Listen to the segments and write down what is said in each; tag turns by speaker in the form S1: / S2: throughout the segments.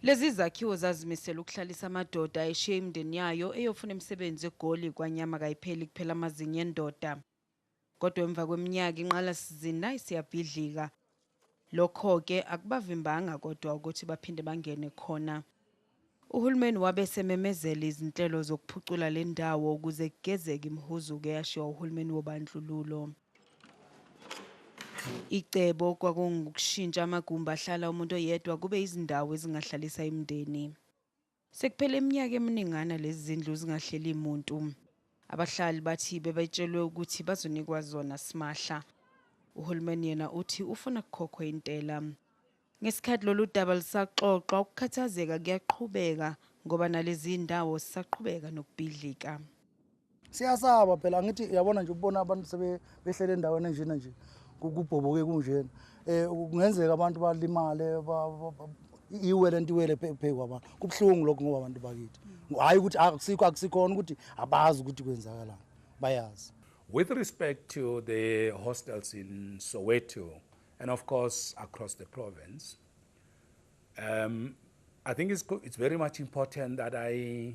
S1: Lezi zakhiwo zazimisela ukuhlalisa amadoda ayeshiye imindeni yayo eyofuna imisebenzi eGoli kwanyama kayipheli kuphela amazinyo endoda. Kodwa emva kweminyaka inqalasizinda isiyabhidlika. Lokho-ke akubavimbanga kodwa ukuthi baphinde bangene khona. Uhulumeni wabe esememezela izinhlelo zokuphucula le ndawo ukuze kugezeke imihuzuko eyashiwa uhulumeni wobandlululo. Icebo kwakungukushintsha amagumbi ahlala umuntu oyedwa kube izindawo ezingahlalisa imindeni. Sekuphele iminyaka eminingana lezi zindlu zingahleli muntu. Abahlali bathi bebetshelwe ukuthi bazonikwa zona simahla. Uhulumeni yena uthi ufuna kukhokhwe intela. Ngesikhathi lolu daba lusaxoxwa, ukukhathazeka kuyaqhubeka ngoba nalezi ndawo zisaqhubeka nokubhidlika.
S2: siyasaba phela angithi uyabona nje ukubona abantu sebehlele endaweni enjena nje kubhoboke kunjena eh kungenzeka abantu balimale iwele nto iwele phezu kwabantu kubuhlungu lokho ngoba abantu bakithi hhayi ukuthi akusikho akusikhona ukuthi abazi ukuthi kwenzakalani bayazi with respect
S3: to the hostels in soweto and of course across the province um, i think it's, it's very much important that i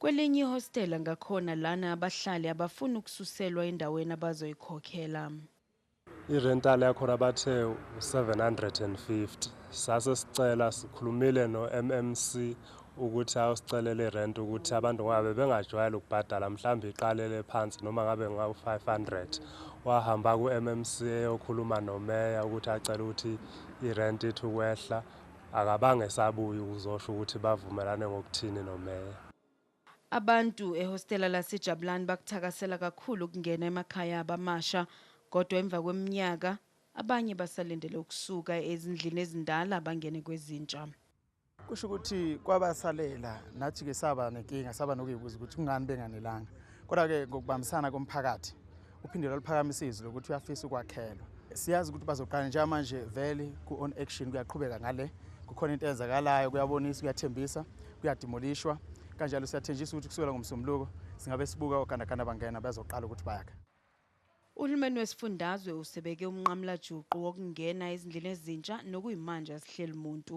S3: Kwelinye
S1: ihostela ngakhona lana abahlali abafuni ukususelwa endaweni abazoyikhokhela.
S4: I-rental yakhona bathe u-750. Sase sicela sikhulumile no-MMC ukuthi awusicelele i-rent ukuthi abantu ngoba bebengajwayele ukubhadala mhlawumbe iqalele phansi noma ngabe ngawu-500. Wahamba ku-MMC eyokhuluma nomeya ukuthi acele ukuthi i-rent ithi ukwehla. Akabange esabuya ukuzosho ukuthi bavumelane ngokuthini noMeya. Abantu
S1: ehostela laseJabulani bakuthakasela kakhulu ukungena emakhaya abo amasha kodwa emva kweminyaka abanye basalindele ukusuka ezindlini ezindala bangene kwezintsha. Kusho ukuthi
S2: kwabasalela nathi-ke saba nenkinga, saba nokuyibuza ukuthi kungani benganelanga. Kodwa-ke ngokubambisana komphakathi uphinde lwaluphakamisa izwi lokuthi uyafisa ukwakhelwa siyazi ukuthi bazoqala njengamanje vele ku-on action kuyaqhubeka ngale kukhona into eyenzakalayo kuyabonisa kuyathembisa kuyadimolishwa kanjalo siyathenjisa ukuthi kusukela ngomsombuluko singabe sibuka ogandaganda bangena bezoqala ukuthi bayakha Uhulumeni
S1: wesifundazwe usebeke umnqamulajuqu wokungena ezindlini ezintsha nokuyimanje asihleli muntu.